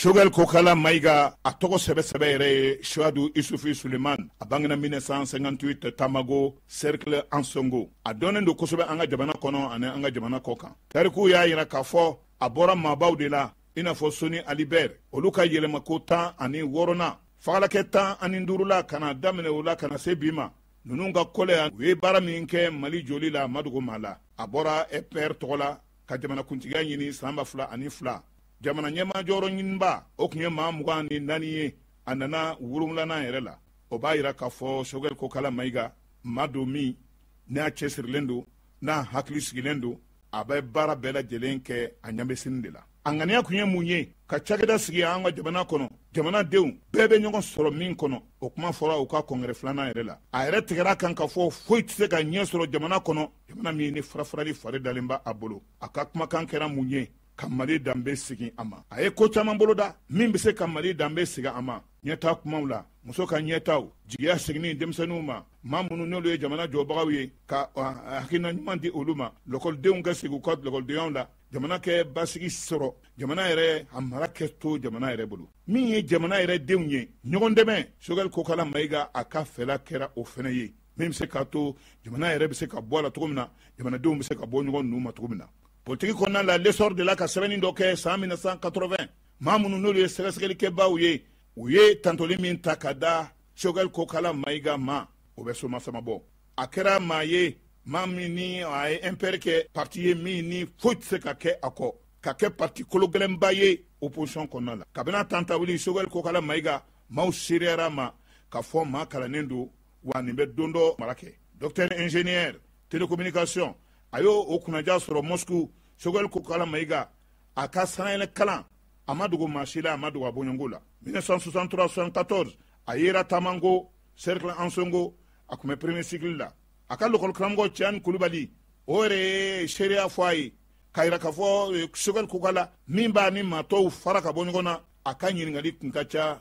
Sogɛli kokala mayiga a tɔgɔ sɛbɛ sɛbɛ yɛrɛ ye suwadu isufi suleman a bangena 1958 tabango cercle ansongo a dɔnnen don kosɛbɛ an ka jamana kɔnɔ ani an ka jamana kɔkan tarikuw y'a yira k'a fɔ a bɔra maabaw de la i n'a fɔ soni ali bɛr olu ka yɛlɛmako tan ani wɔɔrɔnan fagalakɛ tan ani duurula ka na daminɛ o la ka na se bi ma ninnu ka kɔlɛya u ye baara min kɛ mali joli la ma dogo maa la a bɔra mpr tɔgɔ la ka jamanakuntigiya ɲini san ba fila ani fila jamana ɲɛmaa jɔyɔrɔ ɲininbaa o tun ye maa mugan ni naani ye a nana wolonwulanan yɛrɛ la o b'a yira k'a fɔ sogɛl kokala mayiga maa don min n'a cɛsirilen don n'a hakili sigilen don a bɛ baara bɛɛ lajɛlen kɛ a ɲɛ bɛ sini de la a ŋaniya kun ye mun ye ka cakɛda sigi an ka jamana kɔnɔ jamanadenw bɛɛ bɛ ɲɔgɔn sɔrɔ min kɔnɔ o kuma fɔra u ka kɔngɛrɛ filanan yɛrɛ la a yɛrɛ tigɛra kan k'a fɔ foyi tɛ se ka ɲɛ sɔrɔ jamana kɔnɔ jamana min ni farafarali fari dalen b'a bolo a ka kumakan kɛra mun ye ka mali danbe segin a ma a ye ko caman boloda min bɛ se ka mali danbe segin a ma ɲɛtaa kumaw la muso ka ɲɛtaaw jigiya seginni denmisɛnninw ma maa minnu n'olu ye jamana jɔbagaw ye ka hakilina ɲuman di olu ma lɔkɔlidenw ka segin u ka lɔkɔlidenyaw la jamana kɛ basigi sɔrɔ jamana yɛrɛ a mara kɛ to jamana yɛrɛ bolo min ye jamana yɛrɛ denw ye ɲɔgɔn dɛmɛ sogɛli kokala mayiga a ka fɛla kɛra o fɛnɛ ye min be se k'a to jamana yɛrɛ be se ka bɔ a la cogo min na jamanadenw be se ka bɔ ɲɔgɔn nun ma cogo min na politiki kɔnɔna la lesɔr delila ka sɛbɛnnin dɔ kɛ saan 1980 maa minnu n'olu ye sɛgɛsɛgɛlikɛbaaw ye u ye tantoli min ta ka da sogɛli kokala mayiga ma o bɛ somasama bɔ a kɛra maa ye maa min ni a ye mpr kɛ parti ye min ni foyi tɛ se ka kɛ a kɔ ka kɛ parti kologɛlɛnba ye opposition kɔnɔna la kabini a tantawuli sogɛli kokala mayiga maaw seereyara ma k'a fɔ maa kalannen don wa nin bɛ don dɔ mara kɛ docteur ingénieur télécommunication a y'o o kunnaja sɔrɔ moscou sogɛli kokala mayiga a ka sanayɛlɛ kalan a ma dogo maa si la a ma dogo a bɔɲɔgɔnw la 1963-74 a yera tabango cercle ansongo a tun bɛ premier cycle la a ka lɔkɔli karamɔgɔ ciani kulubali o yɛrɛ ye seereya fɔ a ye k'a yira k'a fɔ eh, sogɛli kokala min b'a ni maatɔw fara ka bɔ ɲɔgɔn na a ka ɲininkali tun ka ca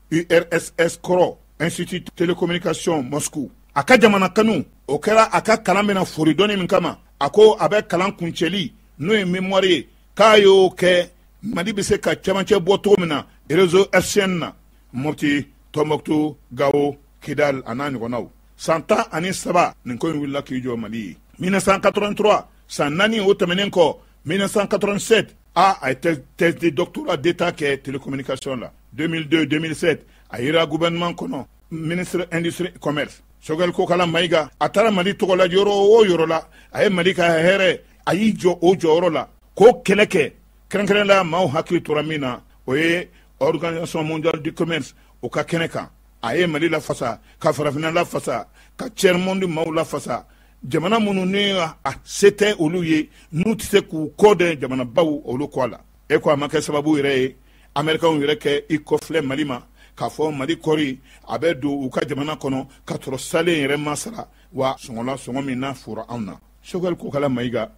urss kɔrɔ institut télécommunication moscou a ka jamana kanu o kɛra a ka kalan bɛna fori dɔnni min kama a ko a bɛ kalan kuncɛli n'o ye mémoire ye k'a y'o kɛ mali bɛ se ka cɛmancɛ bɔ cogo min na réseau hertzien na mopti tɔnbɔkutu gawo kidal a n'a ɲɔgɔnnaw san tan ani saba nin ko in wulila k'i jɔ mali ye 1983 san naani o tɛmɛnen kɔ 1987 a a ye thèse de doctorat d'état kɛ télécommunication la 2002-2007 a yera gouvernement kɔnɔ ministre industrie commerce sogɛl kokala mayiga a taara mali tɔgɔ la yɔrɔ o yɔrɔ la a ye mali ka hɛrɛ a y'i jɔ o jɔyɔrɔ la k'o kɛlɛ kɛ kɛrɛnkɛrɛn la maaw hakili tora min na o ye organisation mondiale du commerce o ka kɛnɛ kan a ye mali lafasa ka farafinna lafasa ka tiers monde maaw lafasa jamana minnu ni a se tɛ olu ye n'u tɛ se k'u kɔ dɛn jamanabaw olu kɔ a la e ko a ma kɛ sababu yɛrɛ ye amerikanw yɛrɛ k'i kɔfilɛ mali ma k'a fɔ mali kɔri a bɛ don u ka jamana kɔnɔ ka sɔrɔ saalen yɛrɛ ma sara wa sɔngɔ la sɔngɔ min n'a fora anw na sogɛli kokala mayiga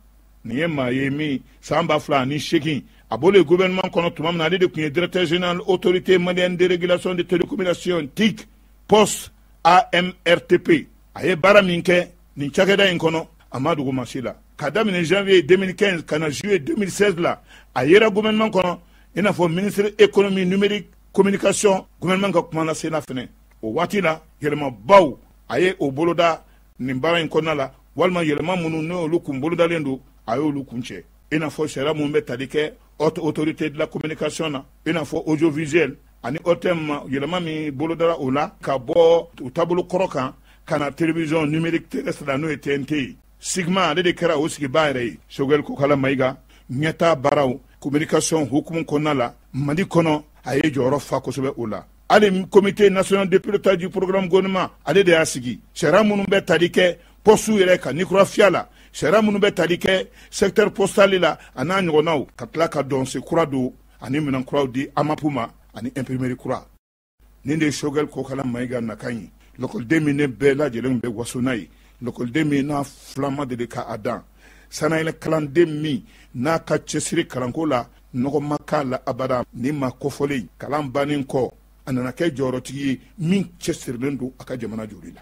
nin ye maa ye min san ba fila ani seegin a bɔlen gouvernement kɔnɔ tuma min na ale de tun ye directeur général autorité malienne de régulation de télécommunication tic poste amrtp a ye baara min kɛ nin cakɛda in kɔnɔ a ma dogo maa si la ka daminɛ janvier 2015 ka na juillet 2016 la a yera gouvernement kɔnɔ i n'a fɔ ministre économie numérique communication gouvernement ka kuma lasena fɛnɛ o waati la yɛlɛmabaw a ye o boloda nin baara in kɔnɔna la walima yɛlɛma minnu n'olu kun bolodalen don a y'olu kuncɛ i n'a fɔ sariya minnu bɛ tali kɛ haute autorité de la communication na i n'a fɔ audiovisuel ani ortm ma yɛlɛma min bolodara o la ka bɔ u taabolo kɔrɔ kan ka na télévision numérique terrestre la n'o ye tnt ye cigma ale de kɛra o sigibaa yɛrɛ ye sogɛl kokala mayiga ɲɛtaa baaraw communication hukumu kɔnɔna la mali kɔnɔ a ye jɔyɔrɔ fa kosɛbɛ o la hali comité national de pilotage du programme gouvernement ale de y'a sigi sariya minnu bɛ tali kɛ pɔsiw yɛrɛ ka ni kura fiyɛ a la sariya minnu bɛ tali kɛ secteur postal la a n'a ɲɔgɔnnaw ka tila ka dɔnse kura don ani minɛn kuraw di amap ma ani imprimerie kura nin de ye sogɛli kokala mayiga nakan ye lɔkɔliden min ni bɛɛ lajɛlen bɛ waso n'a ye lɔkɔliden min n'a filan ma deli ka a dan sannayɛlɛ kalanden min n'a ka cɛsiri kalanko la nɔgɔ ma k'a la abada nin maa kofɔlen kalan bannen kɔ a nana kɛ jɔyɔrɔtigi ye min cɛsirilen don a ka jamana jɔli la